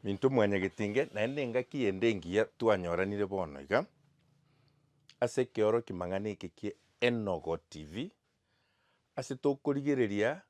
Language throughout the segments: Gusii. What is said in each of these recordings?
Minto mwanyagetinge, naende engaki ende engiya twanyoranire bono iga ase ekeoroki mang'ana eke kie Enogo TV, ase tokorigereria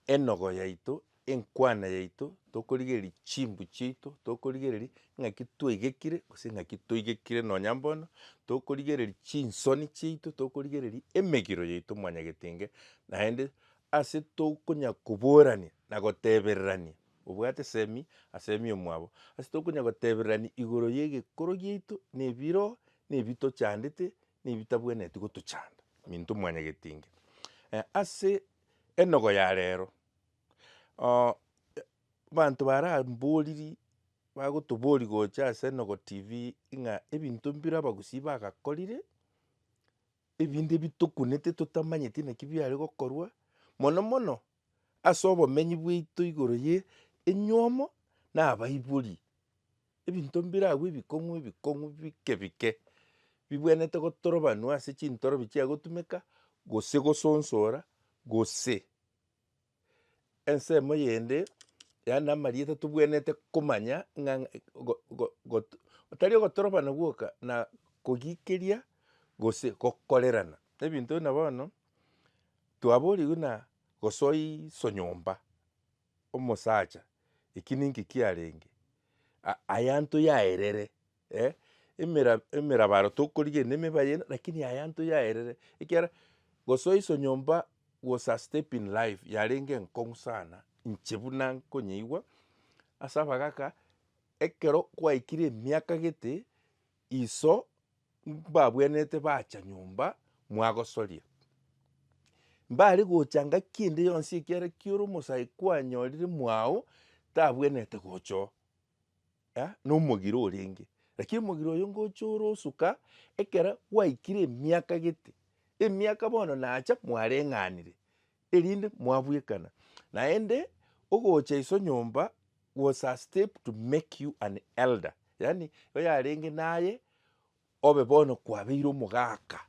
enogo yaito, enkwana yaito, tokorigereria chimbu chiaito, tokorigereria ng'aki twaigekire gose ng'aki toigekire nonya mbono, tokorigereria chinsoni chiaito, tokorigereria emegiro yaito mwanyagetinge, naende ase tokonya koborania na gotebererania Obwate Semi, na Semi omwabo, ase tokonya gotebererania igoro y'egekoro giaito, na ebiro, na ebi tochandete, na ebi tabwenereti gotochanda. Minto mwanyagetinge ase enogo ya rero, abanto baramboriri, bagotobori gocha ase enogo tv ng'a ebinto mbire abagusii bagakorire, ebinde bitokunete totamanyeti naki biare gokorwa, mono mono ase obomenyi bwaito igoro ye enywomo na abaibori, ebinto mbiragwo ebikong'u ebikong'u bike bike, bibwenerete gotorobanwa ase chintorobi chia gotumeka, gose gosonsora, gose ensemo eyende yaani na amarieta tobwenerete komanya ng'a go- go- go- tari ogotorobana gwoka na kogikeria gose gokorerana. Ebinto buna bono. Twaborigwe na gosoa iso nyomba, omosacha eki ninki kiarenge, a- ayaanto yaerere eh, emera emerabaro tokorigena emeba yere lakini ayaanto yaerere, ekiagera gosoa iso nyomba was a step in life yarenge enkong'u sana inche buna nkonyeigwa ase abagaka, ekero kwaikire emiaka gete Iso mbabwenerete bacha nyomba mwagosoria. Mbare gocha ngaki ende yonsi ekiagera kioro omosae kwanyorire mwao tabwenerete gocha oo, eh, nomogiro orenge. Lakini omogiro oyo ngocha ore osuka ekero gwaikire emiaka gete, emiaka bono nacha mwareng'anire. erinde mwabwekana naende ogocha iso nyomba was a step to make you an elder yaani oyarenge naye obe bono kwabeire omogaka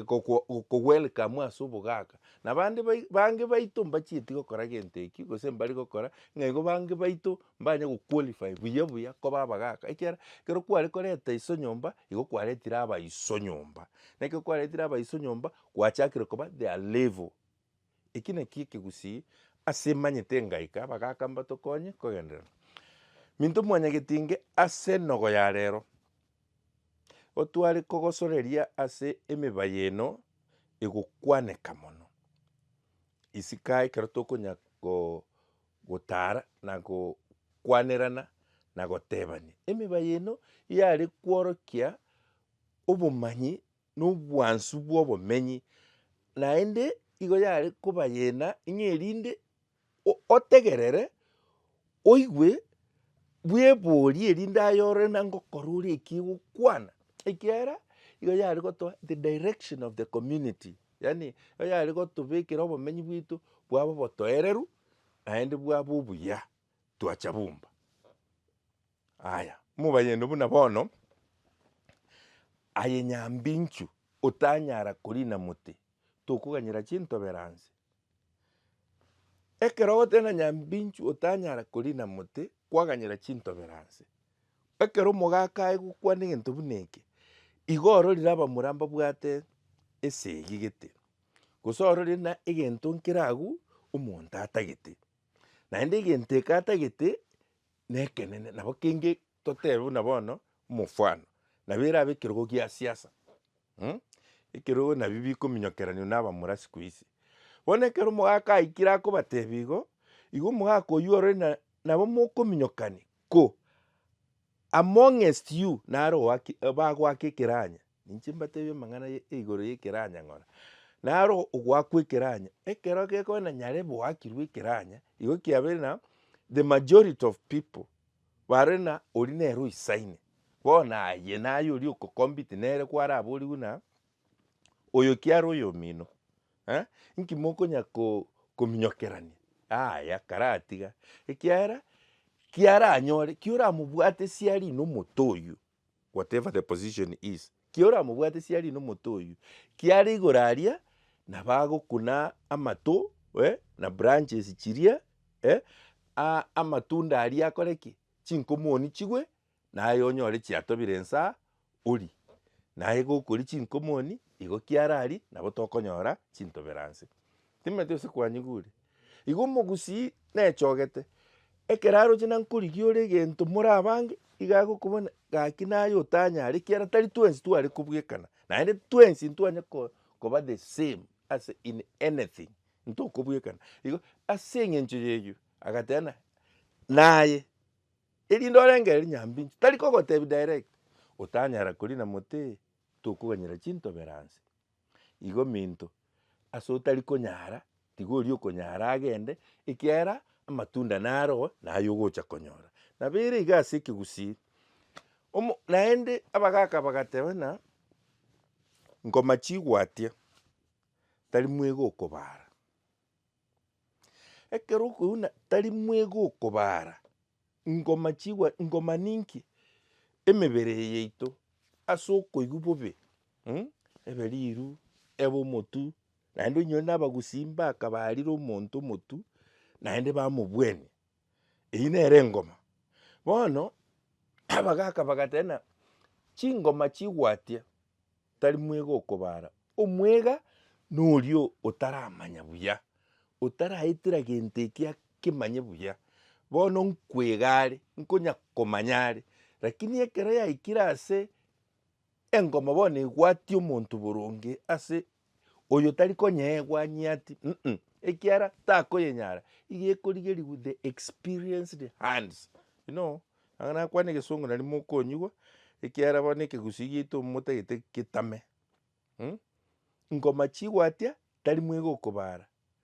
go welcome ase obogaka na bande bange baito mbachieti gokora gento eki gose mbari gokora ng'a igo bange baito mbanye go qualify buya buya koba abagaka ekiagera ekero kware koreta iso nyomba igo kwaretire abaiso nyomba na ekero kwaretire abaiso nyomba. Gwachakire koba their level. Eki naki ekegusii ase manyete ngaika bagaka mbatokonye kogenderera. Minto mwanyagetinge ase nogo ya rero, otware kogosoreria ase emeba y'eno egokwaneka mono. Isika ekero tokonya gotara na gokwanerana na gotebania. Emeba y'eno yare kworokia obomanyi na obwansu bw'obomenyi, naende igo yare kobayena ng'a erinde o- otegerere, oigwe, bweborie erinde aye ore na ngokora ore eki egokwana. Ekiagera igo yare gotoa the direction of the community, yaani igo yare gotobekera obomenyi bwaito bwabe obotoereru naende bwabe obuya twacha bomba. Aya, mobayende buna bono, aye nyambinchu otanyara korina mote, tokoganyera chintoberanse. Ekero ogoteba na nyambinchu otanyara korina mote, kwaganyera chintoberanse. Ekero omogaka aye gokwana egento buna eke, igo ororire abamura mbabwate esegi gete, gose ororire buna egento nkere agwo omonto atagete. Naende egento eke atagete, Nekenene, nabo kenge totebe buna bono omofwano, nabo erabe ekerogo gia siasa mh, ekerogo nabio bikominyokeranio na abamura sikuisi. Bono ekero omogaka aikire akobatebia igo, igo omogaka oyio ore na nabo mokominyokani ko amongest you nare oaki bagoaka ekeranya Ninche mbateebie amang'ana ye igoro y'ekeranya ng'ora, naro ogoakwa ekeranya, ekero gekogenda nyare boakirwe ekeranya, igo kiabeire na the majority of people bare na oria nere oisaine, bono aye naye oria oko compete nere kwarabori buna oyo kiare oyo omino eh, inki mokonya ko- kominyokerania yaya karatiga ekiagera kiaranyore, kiora mobwate siari na omote oyio, whatever the position is, kia oramobwate siarie nomote oyio, kiare igoro aria nabo agokuna amato eh, na branches chiria eh, a- amatunda aria akore ki? Chinkomoni chigwe, naye onyore chiatobire insa orie. Naye gokoria chinkomoni igo kiara aria nabo tokonyora chintoberanse. Timanyeti gose kwanyigure. Igo omogusii nechogete, ekero aroche nankorigia ore egento more abange, iga agokobuna gaki naye otanyare ekiagera tari twensi tware kobwekana, naende twensi ntitwanye ko- koba the same ase in anything, ntokobwekana. Igo ase eng'encho y'eyio, agateba ng'a naye erinde orengere nyambinto, tari kogotebi direct, otanyara korina mote, tokoganyera chintoberansi. Igo minto, ase otari konyara, tiga oria okonyara agende, ekiagera amatunda naro naye ogocha konyora. Nabo ere iga ase ekegusii, omo naende abagaka bagateba ng'a ngoma chigwatia tari mwega okobara. Ekero okoigwa tari mwega okobara, ngoma chigwa ngoma ninki emebere eye yaito ase okoigwa bobe ebe riru ebe omotu naende onyore na abagusii mbaka barire omonto omotu naende bamobuania. Eyio nere engoma. Bono abagaka bagateba ng'a chingoma chigwatia tari mwega okobara, omwega noria otaramanya buya, otaraetera gento eki akemanye buya. Bono nkwega are, nkonya komanya are, rakini ekero yaikire ase Engomo bono egwatie omonto boronge ase oyo tari konyeegwa nyiati, mm, ekiara takoyenyara, iga ekorigerigwe the experienced hands. You know, anga nakwane egesongo nari mokonyigwa, ekiara bono ekegusii giaito momotagete getame, mm, ngoma chigwatia tari mwega okobara.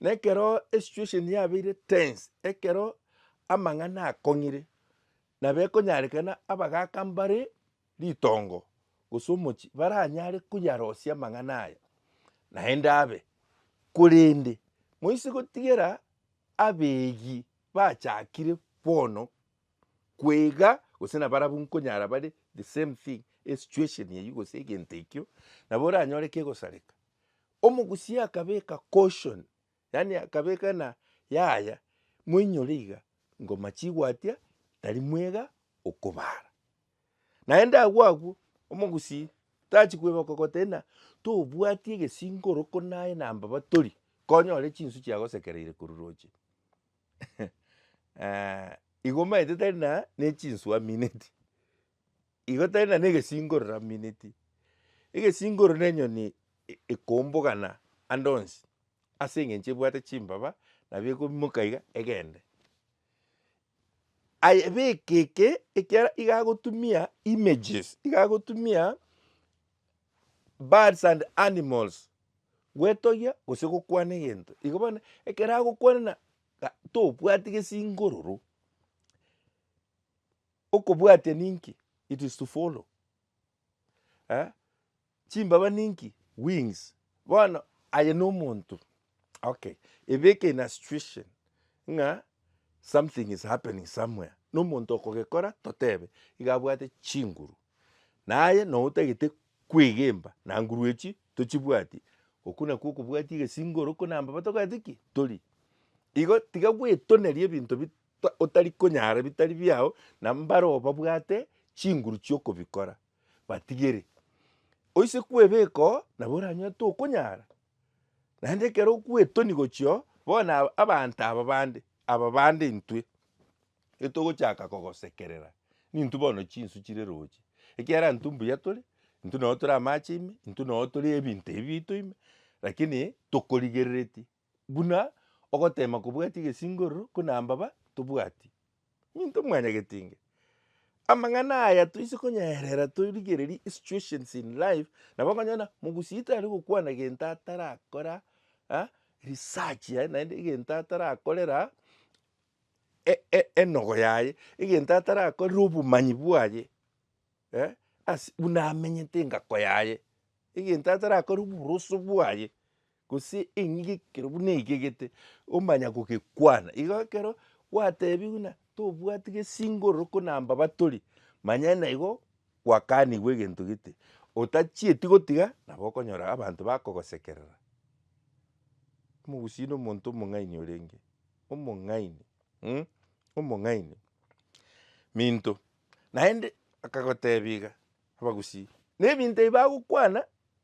Na ekero esituesheni yabeire tense, ekero amang'ana akong'ire, nabo ekonyarekana abagaka mbare ritongo gose omochie baranyare koyarosia amang'ana aya, naende abe. Korende moise gotigera abegi bachakire bono kwega gose na barabwo nkonyara bare the same thing, esituesheni eywo gose egento ekio, nabo oranyore kegosareka Omogusi akabeka caution, yaani akabeka ng'a yaya moinyore iga, ngoma chigwatia tari mwega okobara. Naende agwo agwo, omogusi tachi kweboka goteba ng'a tobwati egesinka oroko naye na mbaba tori, konyore chinsu chiagosekereire korwa roche igo omanyete tari na nechinsu amineti. Igo tari na negesingoro ramineti, egesingoro ne enyoni ekombogana ande onsi ase eng'encho ebwate chimbaba nabo ekoimoka iga egende. Aye beka eke ekiagera iga agotumia images iga agotumia birds and animals gwetogia gose gokwana egento. Igo bono ekero agokwana na tobwati gesingororo Okobwatia ninki? It is to follow eh, chimbaba ninki? Wings. Bono aye nomonto okay, ebeke in a situation ng'a something is happening somewhere, nomonto okogekora totebe iga abwate chinguru, naye noo otagete kwegemba na nguru echio tochibwati, okwo nakwo okobwatia egesingo ore okwo na mbaba tokoreti ki? tori. Igo tiga gwetoneria ebinto bi ta- otari konyara bitari biao, na mbareo babwate chinguru chi'okobikora, batigere. Oise kwebeka oo, nabo oranyotete okonyara, naende ekero okwetoni gochia oo, bono aba- abanto aba bande, aba bande intwe, etogochaka kogosekerera, nintwe bono chinsu chire roche, ekiagera intwe mbuya tore, intwe nabo tore amache ime, intwe nabo tore ebinto ebi biaito ime, lakini tokorigereretie. buna ogoteema kobwatia egesingororo buna mbaba tobwati. Minto mwanyagete inge. Amang'ana aya toise konyaerera torigererie esituations in life nabo okonyora mogusia tari gokwana gento atarakora research yaye naende egento atarakorera enogo yaye egento atarakorera obomanyi bwaye ase buna amenyete engako yaye egento atarakorera oboroso bwaye. Gose eng'ige ekero buna egegete omanya gogekwana. Igo ekero gwatebiwe buna tobwati gesingororo ko namba batori, manya naigo gwakanigwe egento gete otachieti gotiga nabo okonyora abanto bakogosekerera. Omogusii nomonto omong'aini orenge, omong'aini mh, omong'aini. Minto, naende akagotebia iga abagusii, na ebinto ebi bagokwana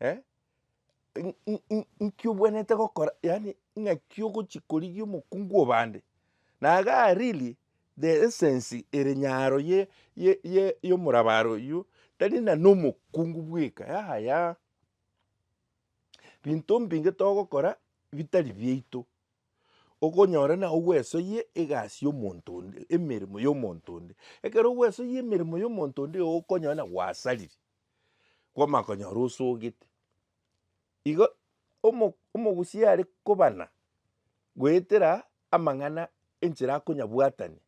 eh, in- in- in- inki obwenerete gokora yaani ng'aki ogochi korigia omokungu o bande. Na igaa really the essence ere nyaro ye- ye- ye- yomorabare oyio, tari na nomokungu bweka yaya, binto mbinge togokora bitari biaito, okonyora na ogwesoyie egasi y'omonto onde, emeremo y'omonto onde. Ekero ogwesoyie emeremo y'omonto onde igo okonyora na gwasariri. kwamakonyora osogete. Igo omo omogusia are kobana goetera amang'ana enchera akonyabwatania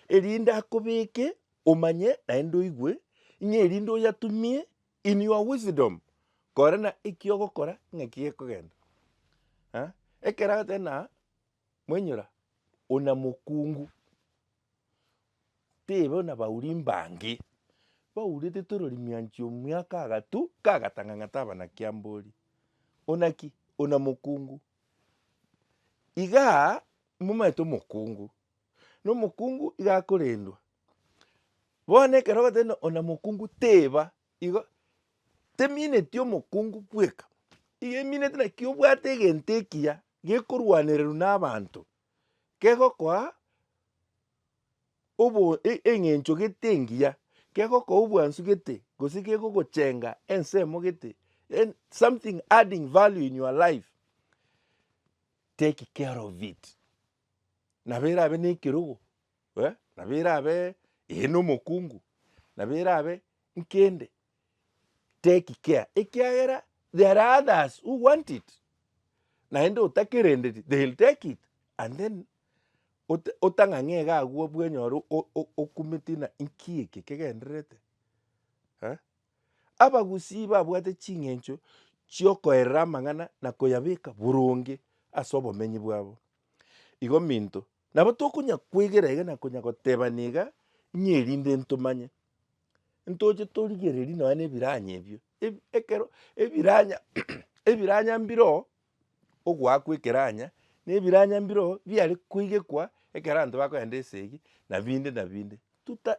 erinde akobeke omanye naende oigwe ng'a erinde oyatumie in your wisdom korana eki ogokora ng'aki gekogenda. Ekero agotebi ng'a, mwainyora, ona mokungu. Teiba buna bauri mbange, baurete torori mianchi omiaka agatu kagatang'ang'ata abana kiambori, ona ki? ona mokungu. Igaa momanyete omokungu, na omokungu iga akorendwa. Bono ekero ogoteba ng'a ona mokungu teba igo, temineti omokungu bweka, emineti naki obwate egento ekiya gekorwanererwa na abanto. kegokoa obo eng'encho gete engiya, kegokoa obwansu gete, gose kegogochenga ensemo gete, en- something adding value in your life, take care of it. Nabo erabe na ekerogo nabo erabe eye na omokungu, nabo erabe nkende. take care ekiagera there are others who want it naende otakerendeti they'll take it and then ot- otang'ang'e iga agwo bwenyoro o- o- okumeti ng'a inki eke kegendererete eh? Abagusii babwate ching'encho chiokoerera amang'ana na koyabeka boronge ase obomenyi bwabo. Igo minto Nabo tokonya kwegera iga na konya goteba niga, ng'a erinde ntomanye. Ntoche torigererie nonya na ebiranya ebio, ekero ebiranya ebiranya mbiro ogoakwa ekeranya na ebiranya mbiro biare koigekwa ekero abanto bakoenda esegi na binde na binde. Tuta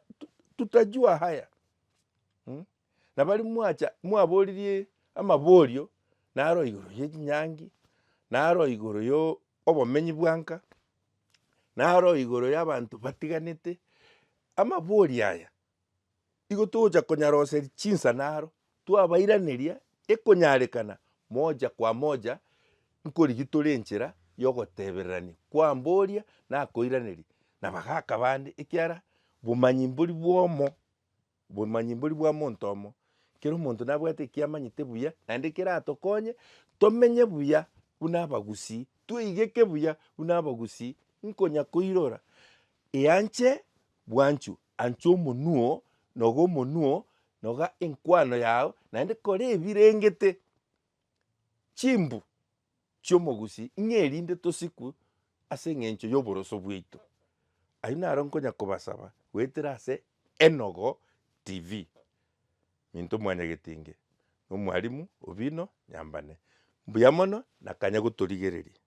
tutajua haya mmh. nabari mwacha mwaboririe amaborio naro igoro ye chinyangi, naro igoro yo obomenyi bwa nka, naro igoro ya abanto batiganete, amaborio aya igo togocha konyaroseria chinsana aro twabairaneria ekonyarekana moja kwa moja nkorigia tore enchera ya ogotebererania kwamboria nakoiraneria na bagaka bande ekiara bomanyi mbori bwomo. Obomanyi mbori bwa monto omo. Kera omonto nabwate eki amanyete buya naende keratokonye tomenye buya buna abagusii, tweigeke buya buna abagusii nkonya koirora eanche bwanchu, ancha omonuo, noga omonuo, noga enkwano yao naende kora ebirengete chimbu. chi'omogusi, ng'a erinde tosikwe ase engencho y'oboroso bwaito. Ayio naro nkonya kobasaba goetera ase Enogo TV. Minto Mwanyagetenge nomwalimu Obino Nyambane, mbuya mono na kanya gotorigereria.